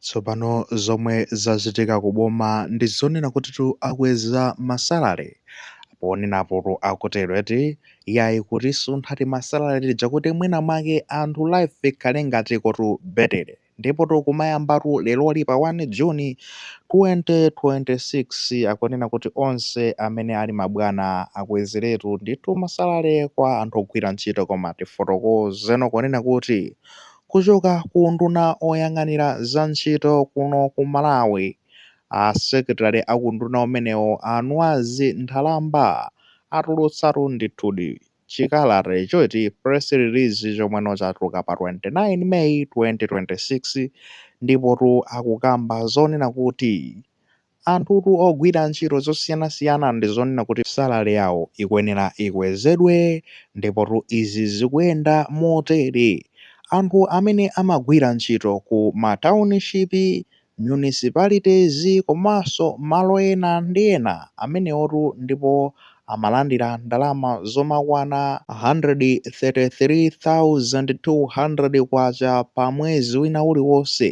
Tsopano zomwe zachitika ku boma ndi zonena kutitu akweza masalale ponenapotu akutero eti iyayi kuti asuntha timasalale tija kuti mwina mwake anthu life ikhale ngati kotu betele ndipotu kumayambatu leroli pa 1 June 2026 akunena kuti onse amene ali mabwana akwezeretu ndithu masalale kwa anthu ogwira ntchito koma tifotokozeno kunena kuti Kuchoka ku unduna oyang'anira za ntchito kuno ku Malawi, a secretary aku unduna umenewu a Nwazi Nthalamba atulutsatu ndithudi chikalata ichoti, press release, chomweno chatuluka pa 29 May 2026 ndipotu akukamba zonena kuti Anthutu ogwira ntchito zosiyanasiyana ndi zonena kuti salary yawo ikuyenera ikwezedwe ndipotu izi zikuyenda motere, anthu amene amagwira ntchito ku ma township, municipalities komanso malo ena ndi ena amenewotu ndipo amalandira ndalama zomakwana, 133,200 kwacha pa mwezi wina uliwonse,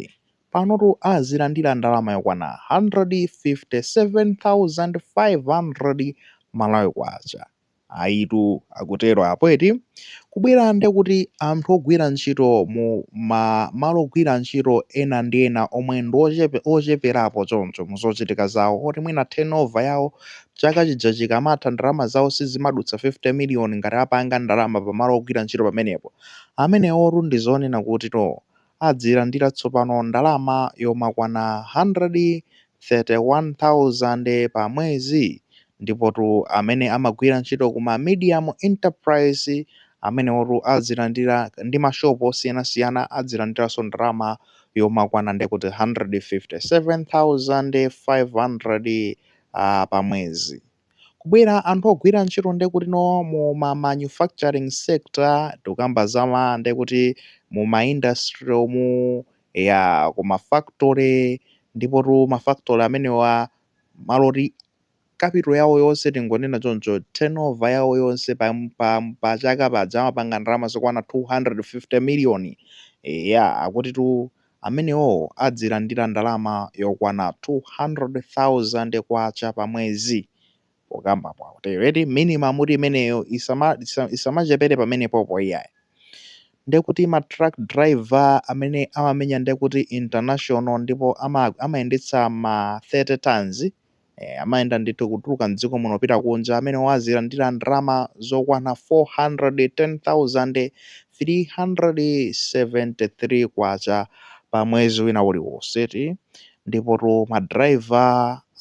Panotu azilandira ndalama yokwana 157,500 Malawi Kwacha. Ayitu, akutero apo eti? Kubwera nde kuti anthu ogwira ntchito mu ma malo ogwira ntchito ena ndi ena omwe ndi ocheperapo choncho mu zochitika zawo oti mwina turnover yawo chaka chija chikamatha ndalama zawo sizimadutsa 50 million ngati apanga ndalama pa malo ogwira ntchito pamenepo amenewotu ndi zonena kuti to adzilandira tsopano ndalama yomakwana 131,000 pa mwezi. Ndipotu amene amagwira ntchito ku ma medium enterprise amenewotu adzilandira ndi ma shop osiyanasiyana adzilandiranso ndalama yomakwana ndekuti 157,500 pa mwezi. Kubwera anthu ogwira ntchito nde kutino mu ma manufacturing sector, tikukamba za ma nde kuti mu ma industry umu, eya ku ma factory, ndipotu ma factory amenewa malo oti capital yawo yonse tingonena choncho, turnover yawo yonse pa chaka paja amapanga ndalama zokwana 250 million, eya akutitu amenewo adzilandira ndalama yokwana 200,000 kwacha pa mwezi pokambapo akutero eti minimum kuti imeneyo isamachepere pamenepopo iyayi ndekuti ma truck driver amene amamenya ndekuti international ndipo amayendetsa ma 30 tons Eeh amayenda ndithu kutuluka m'dziko muno kupita kunja, amene azilandira ndalama zokwana K410,373 pa mwezi wina uliwonse ndipotu ma driver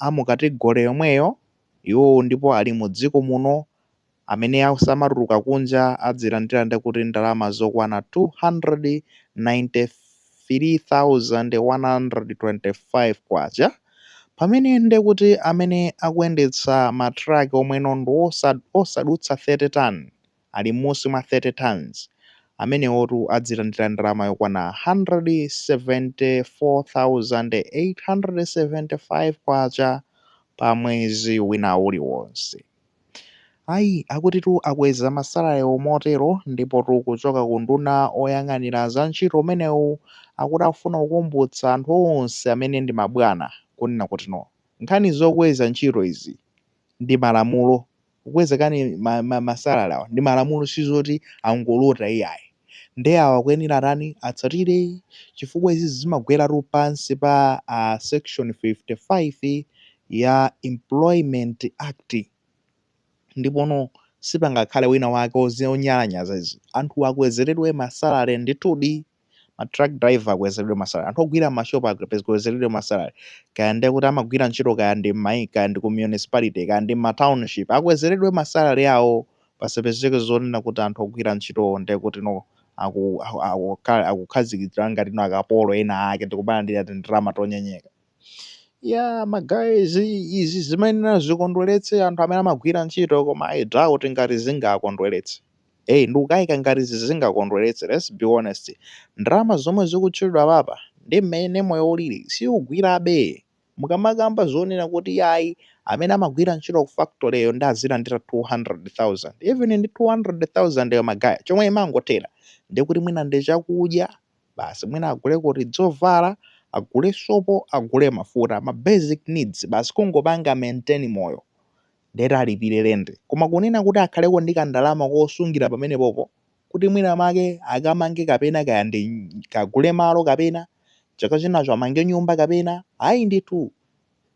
a mu category yomweyo, iwo ndipo ali mu dziko muno Amene asamatuluka kunja adzilandira ndekuti ndalama zokwana K293,125 pamene ndekuti amene akuyendetsa ma truck omwe no ndi osadutsa 30 ton, ali mmusi mwa 30 tons, amenewotu adzilandira ndalama yokwana K174,875 pa mwezi wina uliwonse. Ayi, akutitu akweza ma salarywo motero ndipotu kuchoka ku unduna oyang'anira za ntchito umenewu akuti afuna kukumbutsa anthu onse amene ndi mabwana kunena kuti no. Nkhani zokweza ntchito izi ndi malamulo, kukweza kani ma ma ma salary awa ndi malamulo sizoti angolota iyayi. ndi awa akuyenera atani atsatire chifukwa izi zimagweratu pansi pa section 55 ya Employment Act ndipono sipangakhale wina wake onyalanyaza izi anthuwa akwezeredwe ma salary ndithudi ma truck driver akwezeredwe ma salary anthu ogwira ma shop akwezeredwe ma salary kaya ndekuti amagwira ntchito kaya ndi mmaika kaya ndi ku municipality kaya ndi mma township akwezeredwe ma salary awo pasapezeke zonena kuti anthu ogwira ntchitowo ndekuti no aku, aku, aku, ka- akukhazikitsidwa ngati no akapolo ena ake ndikumalandira tindalama tonyenyeka ya magayizi izi zimayenera zikondweretse anthu amene amagwira ntchito koma i doubt ngati zingakondweretse eyi ndikukayika ngati izi zingakondweretse let's be honest ndalama zomwe zikutchulidwa papa ndi mmene moyo ulili siyigwirabe Mukamakamba zonena kuti yayi amene amagwira ntchito ku factory yo ndi azilandira 200,000 even ndi 200,000 yo magaya chomwe imangothera ndekuti mwina ndi chakudya basi mwina aguleko tidzovala agule sopo agule mafuta ma basic needs basi kungopanga maintain moyo ndeti alipire lendi koma kunena kuti akhaleko ndi kandalama kosungira pamenepopo kuti mwina mwake akamange kapena kaya ndi kagule malo kapena chaka chinachake amange nyumba kapena ayi ndithu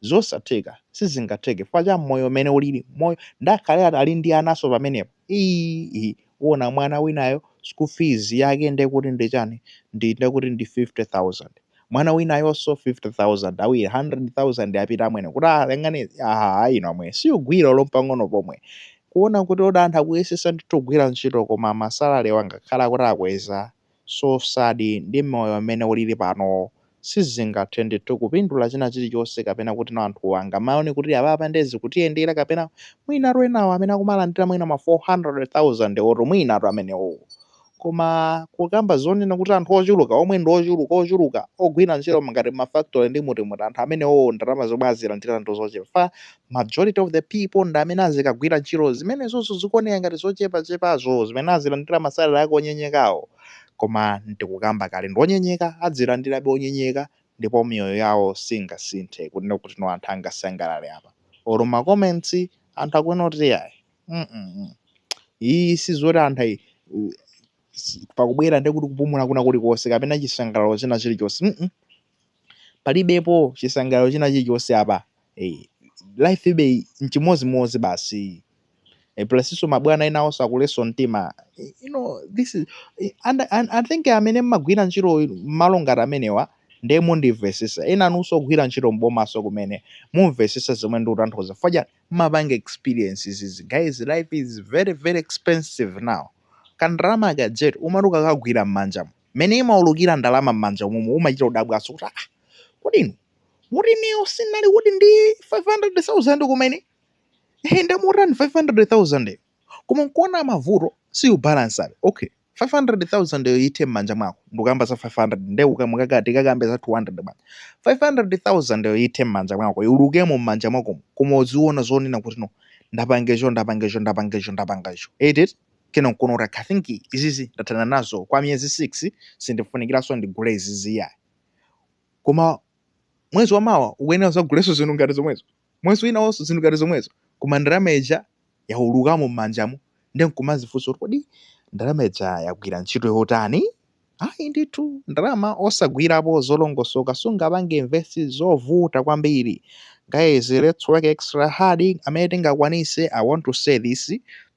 zosatheka sizingatheke chifukwa cha moyo umene ulili moyo ndakhale ati ali ndi anaso pamenepo ii uwona mwana winayo school fees yake ndekuti ndi chani ndi ndekuti ndi 50000 mwana winayonso 50000 awiri 100000 apita amwene kuti alengane ah ayi no amwene siyogwira olompang'ono pomwe kuona kuti oro anthu akuyesesa ndithu kugwira ntchito koma masalalewo angakhale kuti akweza so sad ndi moyo mmene ulili panowo sizingathe ndithu kupindula china chilichonse kapena kuti no anthuwa angamaone kuti apapa nde zikutiyendera kapena mwinatu enawo amene akumalandira mwina ma 400000 wo oro mwinatu amenewowo Koma kukamba zonena kuti anthu ochuluka omwe ndi ochuluka ochuluka ogwira ntchito ngati ma factory ndi muti muti anthu amenewowo ndalama zomwe azilandira ndi zochepa chifukwa majority of the people ndi amene azikagwira ntchito zimenezonso zikuoneka ngati zochepachepazo zimene azilandira ma salary ake onyenyekawo. Koma n'tikukamba kale ndi onyenyeka adzilandirabe onyenyeka ndipo miyoyo yawo singasinthe kunena kuti no anthu angasangalale apa. Or ma comments anthu akunena kuti iyayi. mm iyi sizoti anthu ayi u- si- pakubwera ndi kupumula kwina kulikonse kapena chisangalalo china chilichonse mm palibepo chisangalalo china chilichonse apa eh, life idakali nchimodzimodzi basi e plasinso mabwana enawonso akulesa mtima I- you know this is I- and, and i think amene mmagwira ntchito mmalo ngati amenewa ndiye mundimvesesa enanunso ogwira ntchito mbomaso kumene mumvesesa zomwe ndikutanthauza faja Mumapanga experience izizi guys life is very very expensive now kandalama ka jet umati ukakagwira mmanjamu mmene imaulukira ndalama mmanja momo umachita kudabwanso kuti ah kodi inu mukuti ineyo si ndinali kuti ndi 500,000 kumene ehe ndamutani 500,000 koma nkuona mavuto siubalansabe okay 500,000 yo ithe mmanja mwako ndukamba za 500 nde ukamukakati tikakambe za 200 bwanji 500,000 yo ithe mmanja mwako iulukemo mmanja mwakomo koma uziona zonena kuti no ndapanga icho ndapanga icho ndapanga icho ndapanga icho eti kena nkuona kuti ah I think izizi ndathana nazo kwa miyezi 6 sindifunikiranso ndigule izizi yayi koma mwezi wamawa ukuyenera uzagulenso zinthu ngati zomwezo Mwezi winawonso zinthu ngati zomwezo, koma ndalama ija yaulukamo m'manjamo ndiye n'kumadzifunsa kuti, Kodi ndalama ija yagwira ntchito yotani? Ayi ndithu, ndalama osagwirapo zolongosoka sungapange invest. Zovuta kwambiri. Guys, let's work extra hard amene tingakwanitse. I want to say this,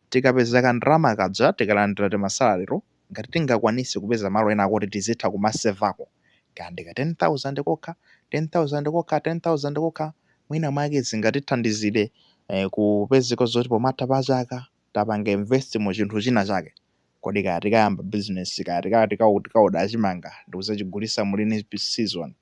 Tikapeza kandalama kaja tikalandira timasalaryto, ngati tingakwanise kupeza malo enako oti tizitha kumasevako kaya ndi ka 10,000 kokha, 10,000 kokha, 10,000 kokha, mwina mwake zingatithandizile kupezeka zoti pomatha pa chaka tapanga invest mu chinthu china chake. Kodi kaya tikayamba bizinesi, kaya tikaoda chimanga ndikuzachigulisa mu lean season,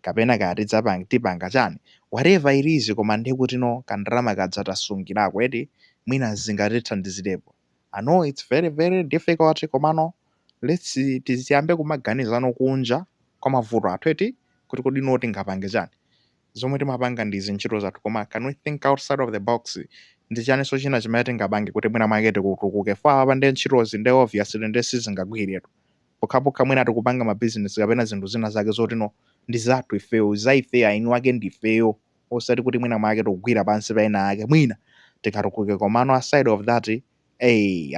kapena kaya tidzapanga, tipanga chani, whatever it is koma ndekutino kandalama kaja tasungilako eti, mwina zingatithandizilepo. I know it's very very difficult komano let's tiyambe kumaganizano kunja kwa mavuto athu eti kuti kodi no tingapange chani zomwe timapanga ndi zintchito zathu koma can we think outside of the box ndi chaninso china chimene tingapange kuti mwina mwake tikutukuke for apapa ndi ntchitozi nde obviously nde sizingagwiretu pokhapokha mwina tikupanga mabizinesi kapena zinthu zina zake zotino ndi zathu ifeyo za ifeyo eni ake ndi ifeyo osati kuti mwina mwake tikugwira pansi pa ena ake mwina tikatukuke komano aside of that a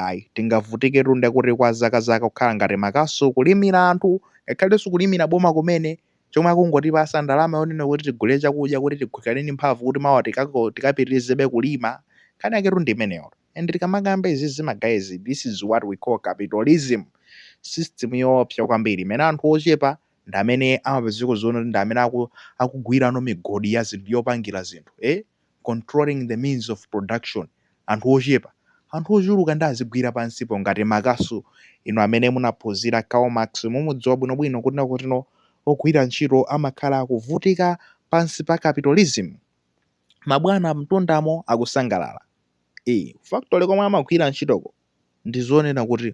ayi tingavutiketu ndekuti kwa zaka zaka kukhala ngati makasu kulimira anthu ngakhalenso kulimira boma kumene chomwe akungotipatsa ndalama yonena kuti tigulire chakudya kuti tikhale ndi mphamvu kuti mawa tikapitirizebe kulima nkhani yaketu ndi imeneyo and tikamakamba izizi magayizi this is what we call capitalism system yoopsa kwambiri imene anthu ochepa ndi amene amapezeka zoona zoti ndi amene akugwirano migodi ya zinthu yopangira zinthu eh controlling the means of production anthu ochepa anthu ochuluka nde azigwira pansipo ngati makasu inu amene munaphunzira Karl Marx mumudziwa bwinobwino kuti no kuti no ogwira ntchito amakhala akuvutika pansi pa capitalism mabwana mtunda umo akusangalala eh factory komwe amagwira ntchitoko ndi zonena kuti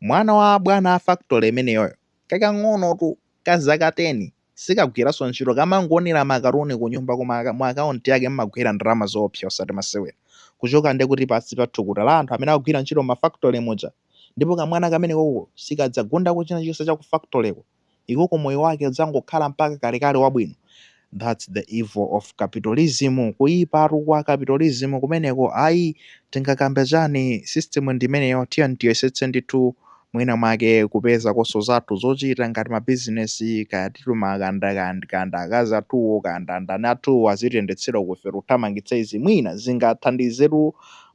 mwana wa abwana a factory imeneyoyo kakang'onotu ka zaka 10 sikagwiranso ntchito kamangonera makatuni kunyumba koma mu akaunti yake mumagwera ndalama zoopsa osati masewera kuchoka nde kuti pansi pa thukuta la anthu amene akugwira ntchito mma factory muja ndipo kamwana kamenekoko sikadzagundako china chilichonse cha ku factoryko iko moyo wake udzangokhala mpaka kalekale wabwino thats the evil of capitalism kuipatu kwa capitalism kumeneko ayi tingakambe chani system ndimeneyo tiyeni tiyesetse ndithu mwina mwake kupezakonso zathu zochita ngati ma business kaya titimaganda kaya ndi akazi athuwo kaya ndi andani athuwo azitiyendetsera uku ife tikuthamangitsa izi mwina zingathandizetu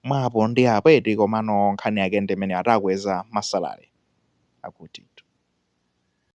mwa apo ndi apo eti komano nkhani yake ndimeneyo ati akweza masalale akuti.